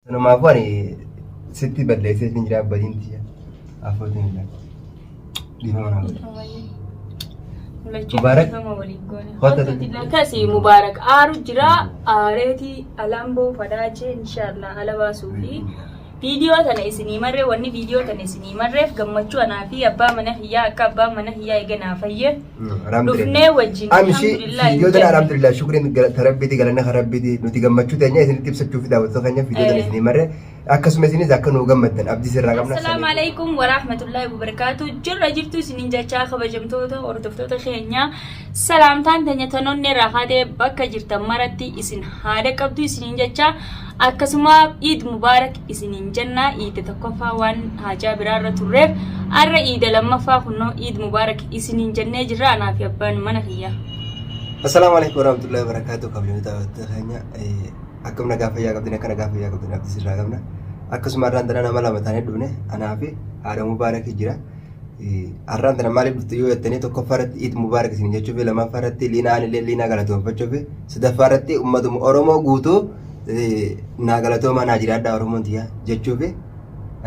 Sanumaafu ani sitti balleessee isin jira abbadiin tiyya. Afootiin illee. Dhiifama naa godhe. Mubaarak. Kota Koti lakasi Mubarak aaru jira aareeti alambo fadaache inshallah ala baasuu fi viidiyoo tana isinii marree wanni viidiyoo tana isinii marreef gammachuu anaa fi abbaa mana hiyyaa akka abbaa mana hiyyaa eega naa fayye Dhufnee wajjin. Amshi fiidiyoota alhamdulillah shukriin galata rabbiiti galanna kan rabbiiti nuti gammachuu teenya isinitti ibsachuuf daawwattoota keenya fiidiyoota Eh. isinii marre akkasuma isinis akka nuu gammaddan abdii sirraa qabna. Assalaamu alaikum wa rahmatullahi wa barakaatu. Jirra jirtu isinin jechaa kabajamtoota hordoftoota keenya salaamtaan teenya tanoonni irraa kaatee bakka jirtan maratti isin haada qabdu isinin jechaa Akkasuma Iid Mubaarak isiniin jenna iida tokkoffaa waan haajaa biraarra turreef arra iida lammaffaa kunnoo Iid Mubaarak isiniin jennee jirra anaa fi abbaan mana kiyyaa. Assalaamu alaikum warahmatullahi wabarakatuh kabajamtoota hawwattoota keenya akkam nagaa fayyaa qabdin akka nagaa fayyaa qabdin abdii sirraa qabna akkasuma har'aan tana nama lama taanee dhufne anaa fi haadha mubaarakii jira har'aan tana maaliif dhufte yoo jettanii tokkoffaa irratti iid mubaarak isin jechuu fi lamaffaa irratti liinaa anillee liinaa galatoonfachuu fi sadaffaa irratti ummatuma oromoo guutuu naa galatoomaa naa jiraadhaa Oromoon tiyyaa jechuufi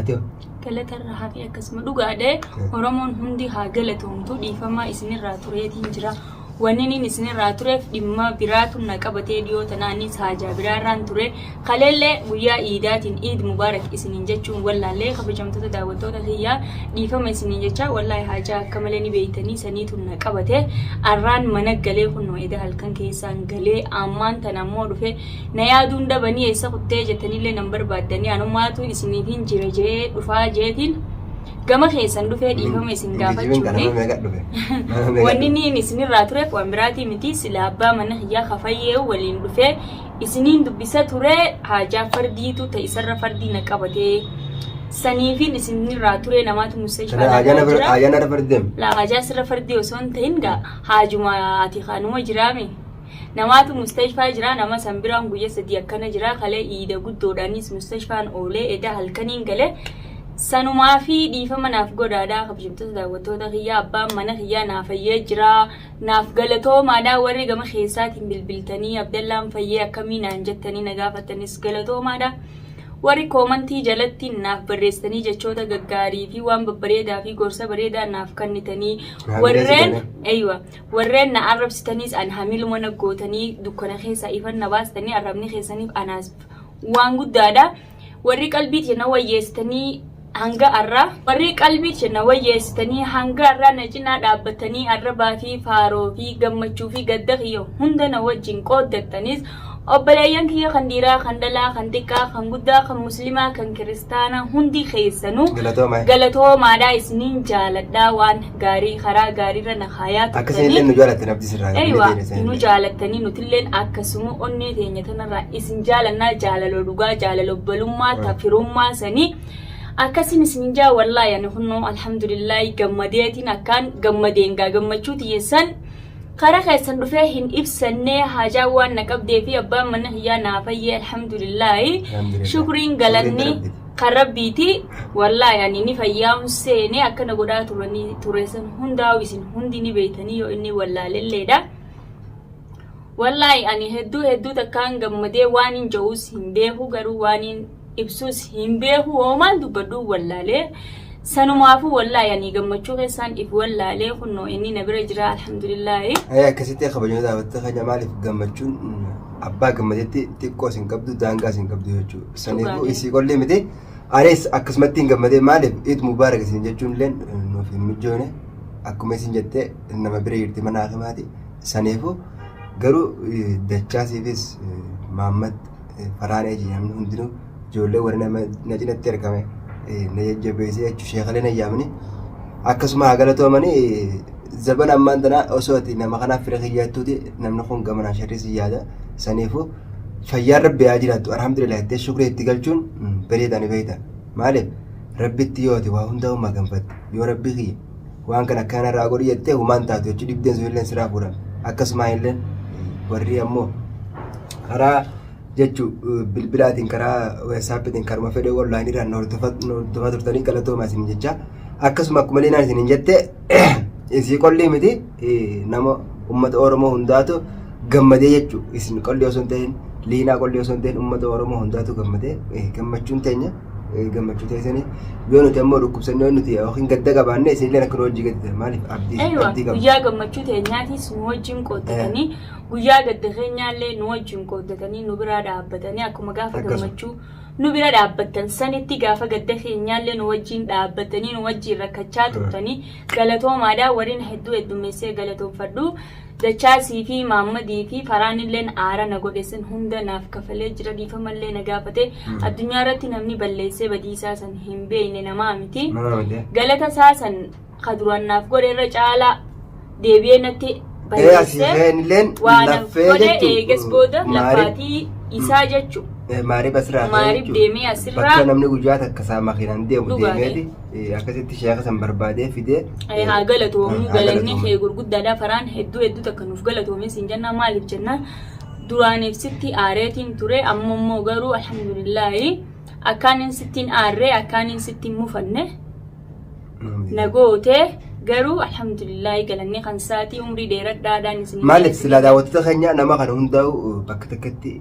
ati hoo? galatarra hafi akkasuma dhugaadhe oromoon hundi haa galatoomtu dhiifamaa isinirraa tureetiin jira wanniin isinirraa tureef dhimma biraatu na qabatee dhiyoo tanaanis haajaa biraarraan ture kaleellee guyyaa iidaatiin iid mubaarak isiniin jechuun wallaallee kabajamtoota daawwattoota kiyyaa dhiifama isiniin jechaa wallaahi haajaa akka malee ni beeytanii saniitu na qabate arraan mana galee kunnoo edaa halkan keessa isaan galee ammaan tana ammoo dhufe na yaaduun dabanii eessa kuttee jettanillee nan barbaaddanii anumaatu isiniifin jira jee dhufaa jeetiin gama keessan dhufee dhiifama isin Ingiliziin kana nama gaafachuufi meeqa dhufe? Nama meeqa wanni dhufe? niin isinirraa ture waan biraatii miti sila abbaa mana kiyyaa kafayyee waliin dhufee isiniin dubbisa ture haajaa fardiitu ta isarra fardii na qabatee saniifin isinirraa ture namaatu musee Kana ajana ajana fardem. laa haajaa sirra fardii osoo hin ta'in gaa Haajuma ati kanuma jiraa mi? Namaatu mustashfaa jiraa nama san biraan guyya sadii akkana jiraa kalee iida guddoodhaanis mustashfaan oolee edaa halkaniin galee sanumaa fi dhiifama naaf godhaadhaa kabajamtoota daawwattoota kiyyaa abbaan mana kiyyaa naa fayyee jiraa naaf galatoomaadhaa warri gama keessaatiin bilbiltanii abdallaan fayyee akkamii naan jettanii na gaafattanis galatoomaadhaa. Warri koomantii jalatti naaf barreessitanii jechoota gaggaarii fi waan babbareedaa fi gorsa bareedaa naaf kennitanii Hamilee warreen sitanii. eeywa warreen na arrabsitaniis an hamiluma na gootanii dukkana keessaa ifan na baastanii arrabni keessaniif anaas waan guddaadha. Warri qalbii tiyya na wayyeessitanii Hanga arraa warrii qalbii tiyya na wayyeessitanii hanga arraa na cinaa dhaabbattanii arrabaa fi faaroo fi gammachuu fi gadda kiyya hunda na wajjin qooddattanis obboleeyyan kiyya kan dhiiraa kan dhalaa kan xiqqaa kan guddaa kan muslimaa kan kiristaanaa hundi keessanuu Galatooma. galatoomaadhaa isiniin jaaladhaa waan gaarii karaa gaariirra na kaayaa Akka isin illee turtanii nu jaallattan abdii sirraa qabna. Eywa, nu jaallattanii nutilleen akkasuma onnee teenya tana Baay'ee isin jaalannaa jaalaloo dhugaa jaalala obbolummaa ta firummaa sanii akkasin isin jaa wallaahi ani kunnoo alhamdulillaahi gammadeetiin akkaan gammadeen gaa gammachuu tiyyeessan karaa keessan dhufee hin ibsannee haajaa waan na qabdee fi abbaan manna kiyyaa naa fayyee alhamdulillaahi Alhamdulillah. shukriin galanni Shukriin Rabbiiti. kan rabbiiti wallaahi ani ni fayyaa'uun seenee akkana godhaa turanii tureessan hundaa'u isin hundi ni beeytanii yoo inni wallaalelleedha. Wallaahi ani hedduu hedduu takkaan gammadee waanin ja'uus hin beeku garuu waanin ibsuus hin beeku hoomaan dubbadhuu wallaalee sanumaafuu wallaahi ani gammachuu keessaan if wallaalee kunnoo inni na bira jira alhamdulillaahi. Ayee akkasitti kabajamee daawwattee keenya maaliif gammachuun abbaa gammadetti xiqqoo isin qabdu daangaa isin qabdu jechuudha. Saniifuu Dhugaadha. isii qollee miti anis akkasumatti hin gammadee maaliif iid mubaarak isin jechuun illee nuuf hin mijoone akkuma isin jettee nama bira jirti mana hakimaati Saniifuu garuu dachaasiifis Maammat Farhaan Eeji namni hundinuu ijoollee warri nama na cinatti argame na jajjabeessee jechuun sheekalee na yaamanii akkasuma haa galatoomanii zaban ammaan tanaa osoo ati nama kanaaf fira kiyyaattuuti namni kun gamanaa sharrii si yaada saniifuu fayyaan rabbi haa jiraattu alhamdulillah itti shukrii itti galchuun bareedaani beekta maaliif rabbitti yoo ati waa hundaa uumaa gambatte yoo rabbi kiyya waan kana akka kana irraa godhi jettee humaan taatu jechuudha dhibdeen sun illee siraa fuudhan akkasumaan illee warri ammoo karaa jechuu bilbilaatiin karaa waatsaappiitiin karuma fedhee onlaayinii irraan hordofaa turtanii galatoomaa isin jecha akkasuma akkuma leenaan isin hin jette isii qollii miti nama uummata oromoo hundaatu gammadee jechuu isin qollii osoo hin ta'in liinaa qollii osoo hin ta'in uummata oromoo hundaatu gammadee gammachuun teenya. eh, gammachuu teessanii yoo nuti ammoo dhukkubsannee yoo nuti yookiin gadda qabaanne isinillee akka nu hojii gadda maaliif abdii Eeywa, abdii qabna. guyyaa gammachuu teenyaatis nu wajjin qooddatanii guyyaa gadda keenyaallee nu wajjin qooddatanii nu biraa dhaabbatanii akkuma gaafa Akkasuma. gammachuu nu bira dhaabbattan sanitti gaafa gadda keenyaallee nu wajjin dhaabbatanii nu wajjin rakkachaa turtanii galatoomaadha wariin hedduu heddummeessee galatoomfadhu Dachaa siifii maammadii fi faraanilleen aara na godhe san hunda naaf kafalee jira dhiifamallee na gaafate addunyaa irratti namni balleessee badii isaa san hin beeyne namaa miti Nama miti. galata isaa san ka duraan naaf godhe irra caalaa deebi'ee natti Ee asii balleessee ka'een illeen waa naaf laffee godhe jechuun, eegas mm, booda maarif- laffaatii isaa jechuu Eh, maarif asirraa ka'ee maarif jechuun, deemee asirraa bakka namni guyyaa takka isaa makiinaan deemu dhugaadhe. deemeeti Eh, akkasitti sheeka san barbaadee fidee Ee, eh, haa galatoomu haa galanni galatoomu. kee gurguddaadha faraan hedduu hedduu takka nuuf galatoomi siin jennaa maaliif jennaan duraaniif sitti aareetiin ture amma immoo garuu alhamdulillaahi akkaaniin sittiin aarree akkaaniin sittiin mufanne na gootee garuu alhamdulillaahi galanni kan saatii umrii dheeradhaadhaan isin maaliif silaa daawwattoota keenya nama kana hundaa'u bakka takkatti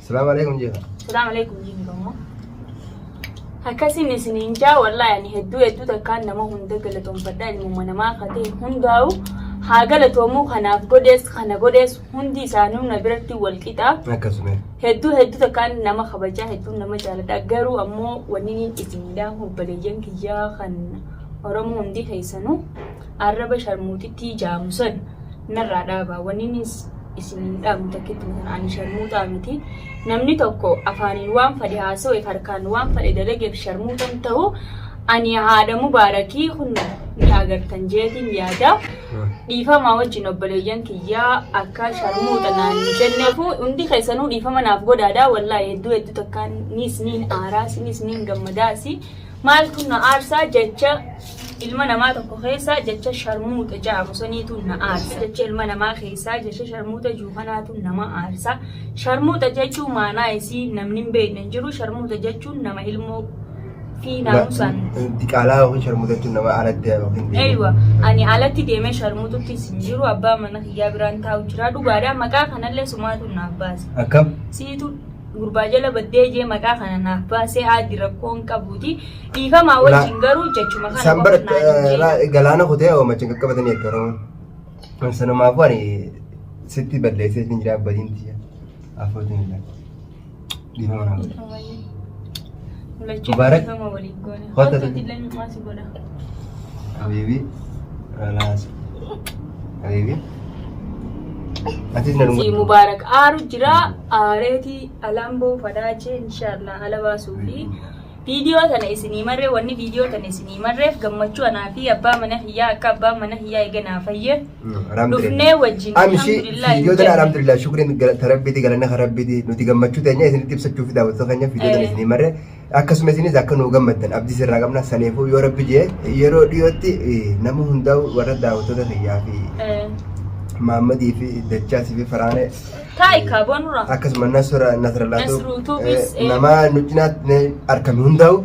Salaam alaikum jeefa. Salaam alaikum jeefa kammoo. Akkasiin isiniin jaa wallaahi ani hedduu hedduu takkaan nama hunda galatoomfadha ilmuma namaa katee hundaa'u haa galatoomuu kanaaf godhees kana godhees hundi isaanuu na biratti wal qixa. Akkasuma. Hedduu hedduu takkaan nama kabajaa hedduu nama jaaladha garuu ammoo wanni isinidha obboleeyyan kiyyaa kan Oromoo hundi keessanuu. Arraba sharmuuxittii jaamu san narraa dhaabaa. Wannin isiniin dhaamu takkittuu tana ani sharmuuxaa miti. Namni tokko afaaniin waan fadhe haasawe harkaan waan fadhe dalageef sharmuuxan ta'u ani haadha mubaarakii kun ni agartan jeetiin yaada. Dhiifamaa wajjin obboleeyyan kiyyaa akka sharmuuxa naan hin jenneefu hundi keessanuu dhiifama naaf godhaadha. Wallaahi hedduu hedduu takkaan ni isiniin aaraas ni isiniin gammadaasi. Maaltu na aarsaa jecha Ilma namaa tokko keessaa jecha sharmuuxa ja'amu saniitu na aarsa. Jecha ilma namaa keessaa jecha sharmuuxa jiru kanaatu nama aarsa. Sharmuuxa jechuun maanaa isii namni hin beekne hin jiru. Sharmuuxa jechuun nama ilmoo fi naamusaan Diqaalaa yookiin sharmuuxa jechuun nama alatti yookiin deemu. Eeywa, ani alatti deemee sharmuuxuttis hin jiru. Abbaa mana kiyyaa biraan taa'u jira. Dhugaadha. Maqaa kanallee sumaatu naaf baase. Akkam? Siitu gurbaa jala baddee jee maqaa kana naaf baasee aaddi rakkoo hin qabuuti dhiifamaa Ulaa- wajjin garuu jechuma kana Isaan bara qofa naan hin jedhu. galaana kutee oomacha hin qaqqabatanii jechuudha Oromoon. Sanumaafuu ani sitti balleessee isin jira abbadiin tiyya. Afootiin illee. Dhiifama naa godhe. Ammayyaa. Mul'achuu Mubarak. dhiifama waliin goone. Kottu Kottu ati. illee micumaa si godha. Habiibi. Ralaas. Habiibi. Atis na Si dhungadhu. Mubaarak aaru jira aareetii alamboo fadaachee inshaallah ala baasuu fi viidiyoo tana isinii marree wanni viidiyoo tana isinii marreef gammachuu anaa fi abbaa mana hiyyaa akka abbaan mana hiyyaa eega naa fayye Dhufnee wajjin. Amshi fiidiyootiin alhamdulillah shukriin galata rabbiiti galanna kan rabbiiti nuti gammachuu teenya isinitti ibsachuuf daawwattoota keenya fiidiyootiin Eh. isinii marre akkasuma isinis akka nuu gammaddan abdii sirraa qabna saniifuu yoo rabbi jee yeroo dhiyootti eh, nama hundaa'u warra daawwattoota kiyyaa fi maammadii fi dachaasii fi faraanee Taa'i kaaboo nurraa. akkasuma nasra nasralaatu Nasruutuufis, eh. nama nu cinaatti argame hundaa'u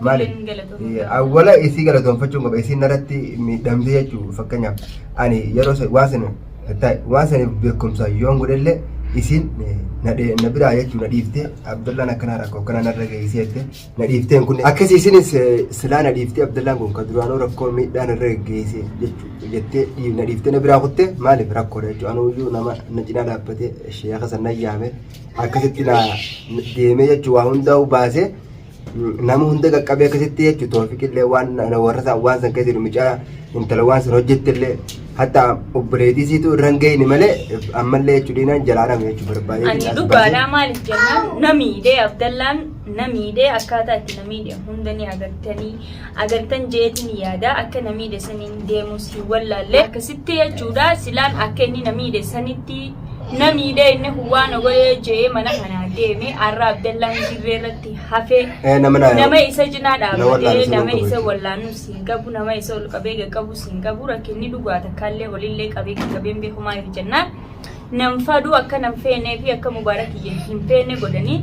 Maali? Atilleen galatoomi. Eh, Awwala isii galatoonfachuun qaba isiin irratti miidhamte jechuudha fakkeenyaaf ani yeroo sa- waan sana ta- waan saniif beekumsa yoon godhellee isiin eh, na dhe- na biraa jechuudha na dhiiftee Abdallaan akkanaa rakkoo akkanaa narra geessee jettee na dhiifteen kun akkasii isiinis eh, silaa na dhiiftee Abdallaan kun kan duraanuu rakkoo miidhaa narra geessee jechuudha jettee dhii- na dhiiftee na biraa kuttee maaliif rakkoodha jechuudha anuu iyyuu nama na cinaa dhaabbatee sheeka sana yaame akkasitti na deemee jechuudha waa hundaa'uu baasee. nama hunda qaqqabee akkasitti jechu toofiqillee waan warra isaa waan san keessa jiru mucaa intala waan san hojjettillee hatta obboleetii siitu irra hin geenye malee ammallee jechu diinaan jalaadhame jechu barbaadee Ani xiqqaas dhugaadhaa baasee. maaliif jennaan namiidhee Abdallaan namiidhee akkaataa itti namiidhe hunda ni agartanii agartan jeetin yaada akka na miidhe saniin deemus hin wallaalle akkasitti jechuudha silaan akka inni na miidhe sanitti na miidhe inni kun waan na godhe je'ee mana kanaa deeme arra abdallaan dirree irratti hafee Eh, nama na- nama isa cinaa na dhaabbatee wallaalu sun nama hin isa qabu. wallaanus hin qabu nama isa ol qabee qaqqabus hin qabu rakkinni dhugaa takkaallee olillee qabee qaqqabeen beekumaa hin jennaan nam faduu akka nam feenee fi akka mubaarak iyya hin feene godhani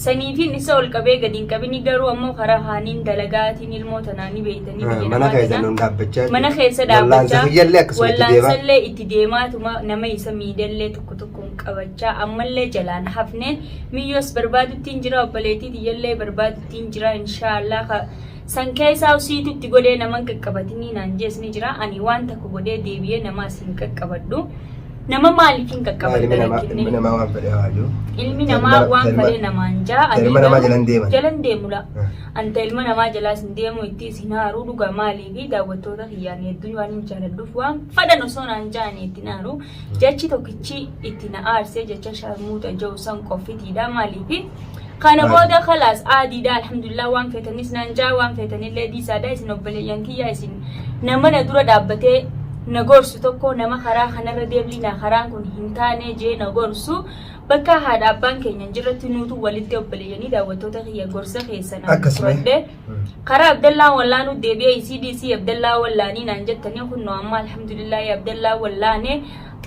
saniitiin isa ol qabee gadi hin qabini garuu ammoo karaa haaniin dalagaatiin ilmoo tanaa ni beeytanii biyya mana namaa keessa tanaa. nun dhaabbachaa mana keessa Wallaansa dhaabbachaa kiyyallee akkasuma itti deemaa. wallaansaallee itti deemaatuma nama isa miidhallee tokko tokkoon qabachaa ammallee jalaan hafneen miyyoos barbaaduttiin jira obboleettii tiyyallee barbaaduttiin jira inshaallah ka San keesaa usiitu itti godhee naman qaqqabatinii naan jees ni jira ani waan takka godhee deebiyee nama as hin qaqqabadhu nama maaliif hin qaqqabadda rakkinni ilmi namaa waan fedhe haa jiru. ilmi namaa waan fedhe namaan jaa ani Ilma namaa jalan deeman. jalan deemu laa anta ilma namaa jalaas hin deemu itti isin haaruu dhugaa maalii fi daawwattoota kiyyaan hedduun waan hin jaaladhuuf waan fedhan osoo naan jaanii itti naaru jechi tokkichi itti na aarsee jecha sharmuuta ja'u san qoffitiidha maalii fi Kana booda khalaas aadiidha alhamdulillah waan feetanis naan jaa waan feetanillee dhiisaadha isin obboleeyyan kiyya isin nama na dura dhaabbatee na gorsu tokko nama karaa kanarra deemliina karaan kun hin taane jee na gorsu bakka haadha abbaan keenya hin jirretti nuutu walitti obboleeyyanii daawwattoota kiyya gorsa keessan Akkasuma. fudhadhe. Karaa Abdallaa wallaanuu deebi'ee isii dhiisii Abdallaa wallaanii naan jettanii kunno amma alhamdulillaahi Abdallaa wallaane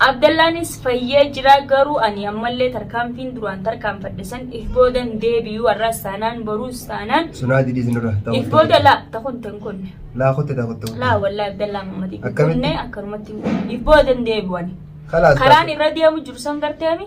Abdallaanis fayyee jira garuu ani ammallee tarkaanfiin duraan tarkaanfadhe san if boodan deebi'uu har'aas taanaan boruus taanaan Sunaa jidhii sinirra. if booda laa takun tan kunne Laa kutte taa kutte. laa wallaa Abdallaa Muhammad hin Akkamitti? kunne akkanumatti hin kunne. if boodan deebi'u ani. Kalaas. karaan irra deemu jiru san garteemi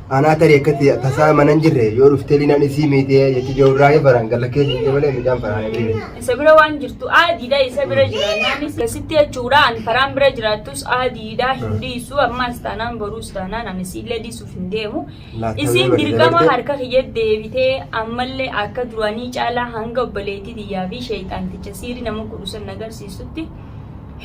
Anaa tarii akkatti tasaa mana hin jirre yoo dhuftee liinaan isii miitee jecha joorraa yoo faraan galla keessa hin malee midhaan faraan hin jirre. Isa bira waan jirtu aadiidha isa bira jiraannaanis asitti jechuudha an faraan bira jiraattus aadiidha hin dhiisu ammaas taanaan boruus taanaan an isiillee dhiisuuf hin deemu. Laattaa Isiin yoo dirqama dabartee- harka kiyya deebitee ammallee akka duraanii caalaa hanga obboleettii tiyyaa fi sheeyxaanticha siiri nama qudusan agarsiisutti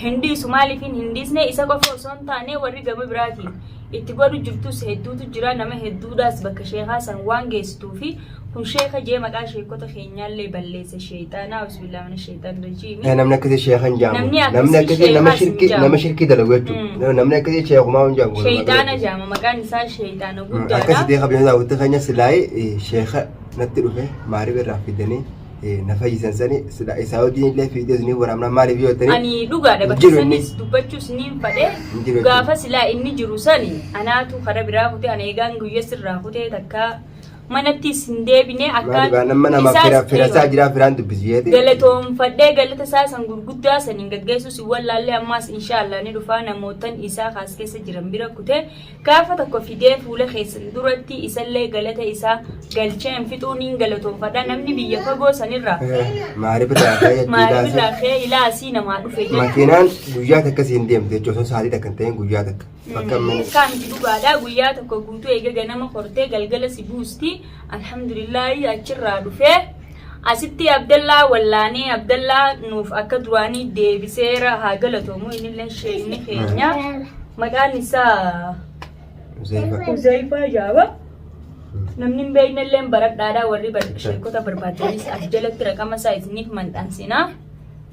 hin dhiisu maaliif hin dhiisne isa qofa osoo hin taane warri gama biraatiin itti godhu jirtus hedduutu jira nama hedduudhaas bakka sheekaa san waan geessituufi kun sheeka jee maqaa sheekota keenyaallee balleesse sheeyxaana auzubillaah mina sheeyxaan rajiimi Eh, namni akkasii sheekha hin jaamu Namni akkasii namni akkasii sheekhaas nama hin shirkii jaamu. nama shirkii dalagu jechuudha Mm. namni akkasii sheekumaa hin jaamu sheeyxaana jaama maqaan isaa sheeyxaana akkasii guddaadha deeqa biyyoota daawwitti keenya silaayee sheeka natti dhufe maariif irraa fidanii eh, na fayyisan sani sila isaa wajjin illee fiideos ni waraabna maaliif yoo ta'e ani dhugaadha bakka Jiru inni. sanis dubbachuus niin fadhe Hin jiru gaafa jechuudha. silaa inni jiru sani anaatu kara biraa kutee ana eegaan guyya sirraa kutee takka manattis hin deebine maaliif akkaan aannan mana nama isaas- fira fira isaa eeywa. jiraa firaan dubbisu jeete galatoomfadhee galata isaa san gurguddaa saniin gaggeessuus hin wallaallee ammaas inshaallah ni dhufaa namootan isaa kaas keessa jiran bira kutee Gaafa tokko fidee fuula keessan duratti isallee galata isaa galcheen fixuu niin galatoofadha namni biyya fagoo sanirraa Maariif irraa ka'ee itti maaliif ilaasee. irraa ka'ee ilaa asii namaa dhufe jedha. Makiinaan guyyaa takka siin deemte jechuun osoo sa'aatii takka hin ta'in guyyaa takka. Bakka mana. Kaan itti dhugaadha guyyaa tokko guutuu eega ganama kortee galgala si buusti alhamdulillaahi achirraa dhufee Asitti Abdallaa wallaanee Abdallaa nuuf akka duraanii deebiseera haa galatoomu innillee sheekni keenya maqaan isaa Uzayfaa jaaba. Namni hin beeknellee baradhaadhaa warri bar- sheekota barbaaddanis as jalatti raqama isaa isiniif maxxansinaa.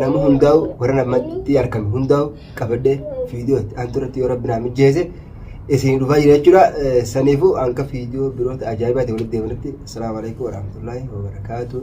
nama hundaa'u warra namatti argame hundaa'u qabadhee viidiyoo itti aantu irratti yoo rabbi naa mijeesse isin dhufaa jira jechuudha. Eh, Saniifuu hanga viidiyoo biroota ajaa'ibaatiin walitti deebinutti. Asalaamu alaikum warahmatullaahi wabarakaatuh.